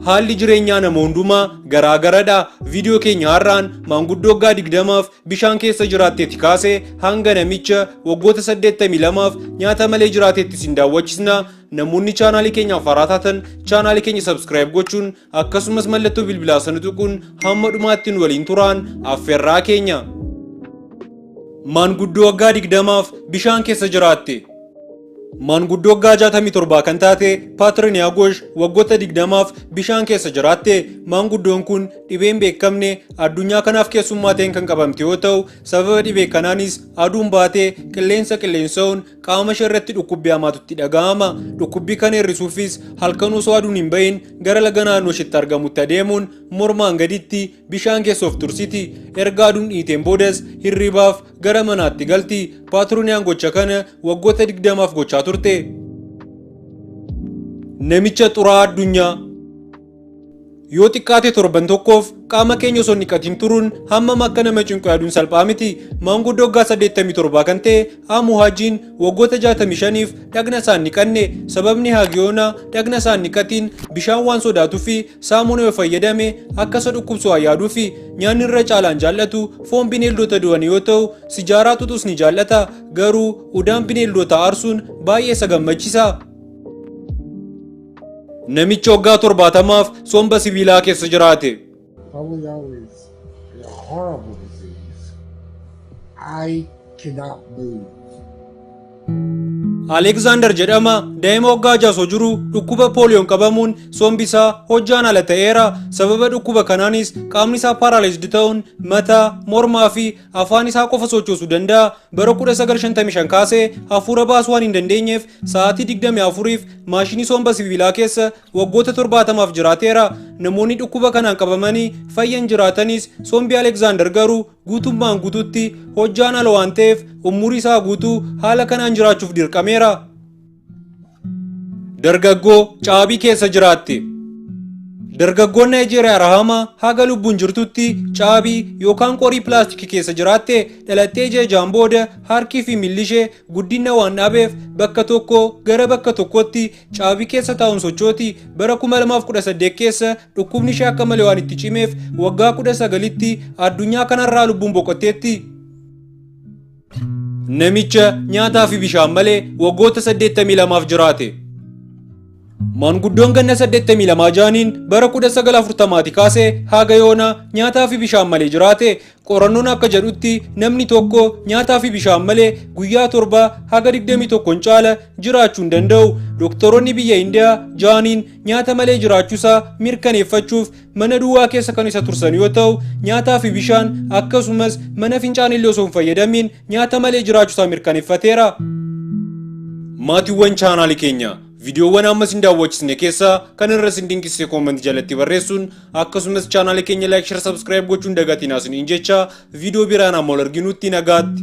Haalli jireenyaa nama hundumaa garaa garadha. Viidiyoo keenya har'aan maanguddoo waggaa 20f bishaan keessa jiraattetti kaase hanga namicha waggoota 82f nyaata malee jiraatetti isin daawwachisna. Namoonni chaanaalii keenyaaf haaraa taatan chaanaalii keenya sabskiraayib gochuun akkasumas mallattoo bilbilaa sana tuquun hamma dhumaatti nu waliin turaan affeerraa keenya. Maanguddoo waggaa 20f bishaan keessa jiraatte. Maanguddoo waggaa 67 kan taate Paatrin Yaagosh waggoota 20f bishaan keessa jiraatte. Maanguddoon kun dhibee hin beekamne addunyaa kanaaf keessummaa ta'een kan qabamte yoo ta'u, sababa dhibee kanaanis aduun baatee qilleensa qilleensa'uun qaama ishee irratti dhukkubbii hamaatu itti dhaga'ama. Dhukkubbii kana hir'isuufis halkan osoo aduun hin bahin gara laga naannoo isheetti argamutti adeemuun mormaan gaditti bishaan keessa of tursiti. Erga aduun dhiiteen boodas hirribaaf gara manaatti galti. Paatrooniyaan gocha kana waggoota 20f gochaa turte. Namicha xuraa'aa addunyaa yoo xiqqaate torban tokkoof qaama keenya osoo hin dhiqatiin turuun hammam akka nama cinqu yaaduun salphaa miti. Maanguddoo waggaa 87 kan ta'e Amu Haajiin waggoota 65f dhagna isaa hin dhiqanne. Sababni Haagiyoona dhagna isaa hin dhiqatiin bishaan waan sodaatuuf saamunaa yoo fayyadame akka isa dhukkubsu haa yaaduufi nyaanni irra caalaan jaallatu foon bineeldota du'anii yoo ta'u sijaaraa xuxus ni jaallata garuu udaan bineeldota aarsuun baay'ee isa gammachiisa. Namichi waggaa torbaatamaaf somba sibiilaa keessa jiraate. Polio is a horrible disease. I cannot move. Aleeksaandar jedhama daa'ima waggaa ja'a osoo jiru dhukkuba pooliyoon qabamuun sombi isaa hojjaan ala ta'eera. Sababa dhukkuba kanaanis qaamni isaa paaraalaayizd ta'uun mataa, mormaa fi afaan isaa qofa sochoosuu danda'a. Bara 1955 kaasee hafuura baasuu waan hin dandeenyeef sa'aatii 24f maashinii somba sibiilaa keessa waggoota 70f jiraateera. Namoonni dhukkuba kanaan qabamanii fayyan jiraatanis sombi Aleeksaandar garuu guutummaan guututti hojjaan ala waan ta'eef umurii isaa guutuu haala kanaan jiraachuuf dirqameera. Dargaggoo caabii keessa jiraatti. Dargaggoon Naayijeeriyaa Rahama haga lubbuun jirtutti caabii yookaan qorii pilaastikii keessa jiraatte dhalattee jeejaan booda harkii fi miilli ishee guddina waan dhaabeef bakka tokko gara bakka tokkotti caabii keessa taa'uun sochooti bara 2018 keessa dhukkubni ishee akka malee waan itti cimeef waggaa 19tti addunyaa kanarraa lubbuun boqotteetti. Namicha nyaataa fi bishaan malee waggoota 82f jiraate. Maanguddoon ganna 82 jaaniin bara 1940ti kaasee haga yoona nyaataa fi bishaan malee jiraate Qorannoon akka jedhutti namni tokko nyaataa fi bishaan malee guyyaa torba haga 21 caala jiraachuu hin danda'u. Doktoroonni biyya Indiyaa jaaniin nyaata malee jiraachuusaa mirkaneeffachuuf mana duwwaa keessa kan isa tursan yoo ta'u, nyaataa fi bishaan akkasumas mana fincaanillee osoo hin fayyadamiin nyaata malee jiraachuusaa mirkaneeffateera. Maatiiwwan chaanaalii keenya viidiyoowwan amma isin daawwachisne keessaa kan irra isin dinqisiise koomantii jalatti barreessuun akkasumas chaanaala keenya laayik shar sabskiraayib gochuun dagatiin haasiniin jecha viidiyoo biraan amma ol arginutti nagaatti.